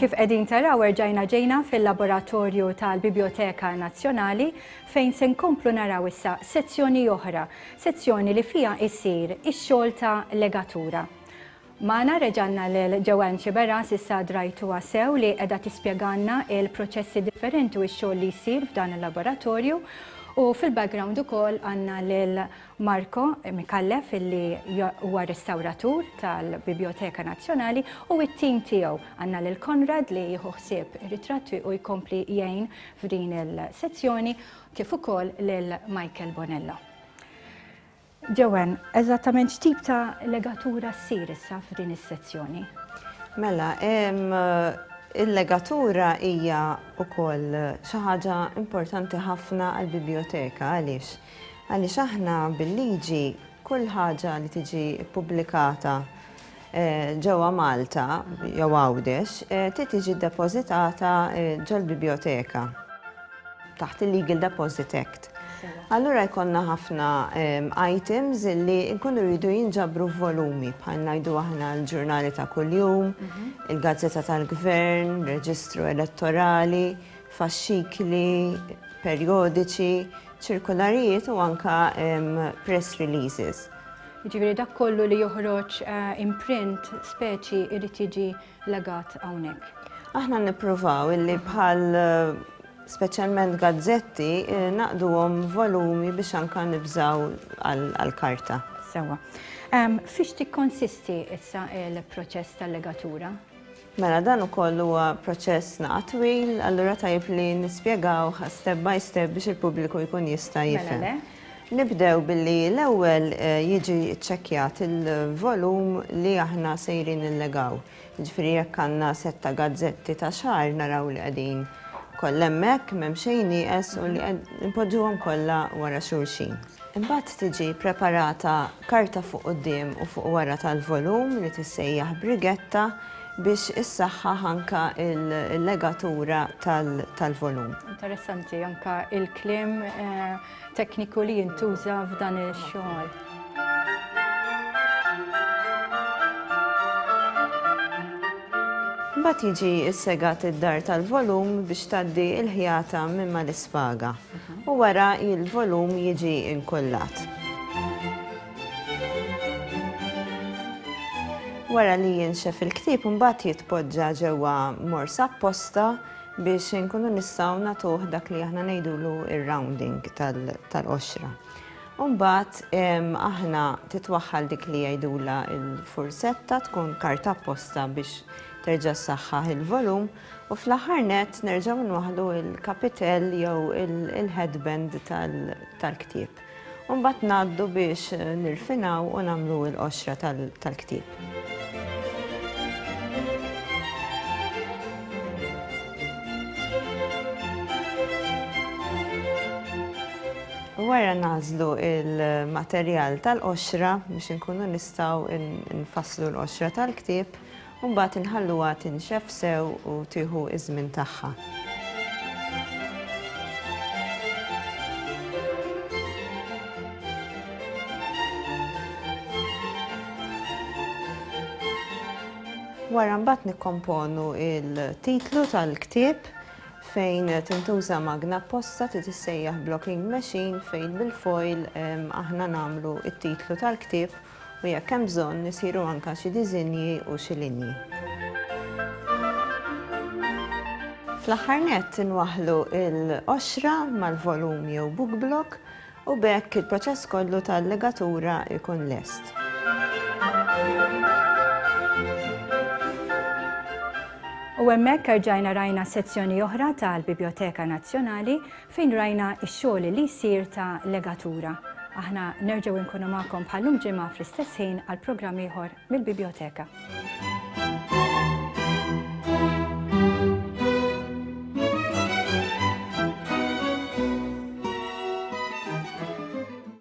Kif qegħdin taraw erġajna ġejna fil-laboratorju tal-Biblioteka Nazzjonali fejn se nkomplu naraw issa sezzjoni oħra, sezzjoni li fiha jsir ix-xogħol ta' legatura. Magħna reġgħanna lil Joanne Sciberras issa drajtuha sew li qegħda tispjegalna il-proċessi differenti u x-xogħol li jsir f'dan il-laboratorju u fil-background ukoll għandna lil Marco Micallef illi huwa restawratur tal-Bibjoteka Nazzjonali u t-tim tiegħu. Għandna lil Konrad li jieħu ħsieb ir-ritratti u jkompli jgħin f'din il-sezzjoni kif ukoll lil Michael Bonello. Joanne, eżattament x'tip ta' legatura ssir issa f'din is-sezzjoni? Mela, il-legatura hija wkoll xi ħaġa importanti ħafna għall-bibljoteka għaliex? Għaliex aħna bil-liġi kull ħaġa li tiġi ppubblikata ġewwa Malta jew Għawdex trid tiġi ddepożitata ġol-bibjoteka taħt il-Legal Deposit Act. Allura jkollna ħafna items li nkunu rridu jinġabru f'volumi bħal ngħidu aħna l-ġurnali ta' kuljum, il-gazzetta tal-gvern, reġistru elettorali, faxxikli, perjodiċi, ċirkularijiet u anka press releases. Jiġifieri dak kollu li joħroġ imprint speċi jrid jiġi legat hawnhekk. Aħna nippruvaw illi bħal speċjalment gazzetti naqduhom volumi biex anke nibżgħu għall-karta. Sewwa. Fiex tikkonsisti issa l-proċess tal-legatura? Mela dan ukoll huwa proċess naqa' twil, allura tajjeb li nispjegawh step by step biex il-pubbliku jkun jista' jifhem. Mela le. Nibdew billi l-ewwel jiġi ċċekkjat il-volum li aħna sejrin nillegaw. Jiġifieri jekk għandna sett ta' gazzetti ta' xahar naraw li qegħdin kollha hemmhekk, m'hemm xejn nieqes u li npoġġuhom kollha wara xulxin. Imbagħad tiġi preparata karta fuq quddiem u fuq wara tal-volum li tissejjaħ brigetta biex issaħħaħ anke l-legatura tal-volum. Interessanti anke l-kliem tekniku li jintuża f'dan ix-xogħol. Imbagħad jiġi ssegat id-dar tal-volum biex tgħaddi l-ħjata minn mal-ispaga. u wara il-volum jiġi inkullat. Wara li jinxef il-ktieb imbagħad jitpoġġa ġewwa morsa apposta biex inkunu nistgħu nagħtuh dak li aħna ngħidulu ir-rounding tal-qoxra. Imbagħad aħna titwaħħal dik li jgħidulha l-fursetta tkun karta apposta biex terġa' ssaħħaħ il-volum. U fl-aħħar nett nerġgħu nwaħħlu l-kapitell jew il-headband tal-ktieb. U mbagħad ngħaddu biex nirfinaw u nagħmlu l-qoxra tal-ktieb. Wara nagħżlu l-materjal tal-qoxra biex inkunu nistgħu nfasslu l-qoxra tal-ktieb. U mbagħad inħalluha tinxef sew u tieħu ż-żmien tagħha. Wara mbagħad nikkomponu il-titlu tal-ktieb fejn tintuża magna apposta ti tissejjaħ blocking machine fejn bil-foil aħna nagħmlu it-titlu tal-ktieb u jekk hemm bżonn isiru anke xi diżinji u xi linji. Fl-aħħar nett inwaħħlu l-qoxra mal-volum jew book block u b'hekk il-proċess kollu ta' allegatura jkun lest. U hemmhekk erġajna rajna sezzjoni oħra tal-Bibjoteka Nazzjonali Fejn rajna x-xogħol li jsir ta' legatura. Aħna nerġgħu nkunu magħkom bħal llum ġimgħa fl-istess ħin għal programm ieħor mill-Bibjoteka.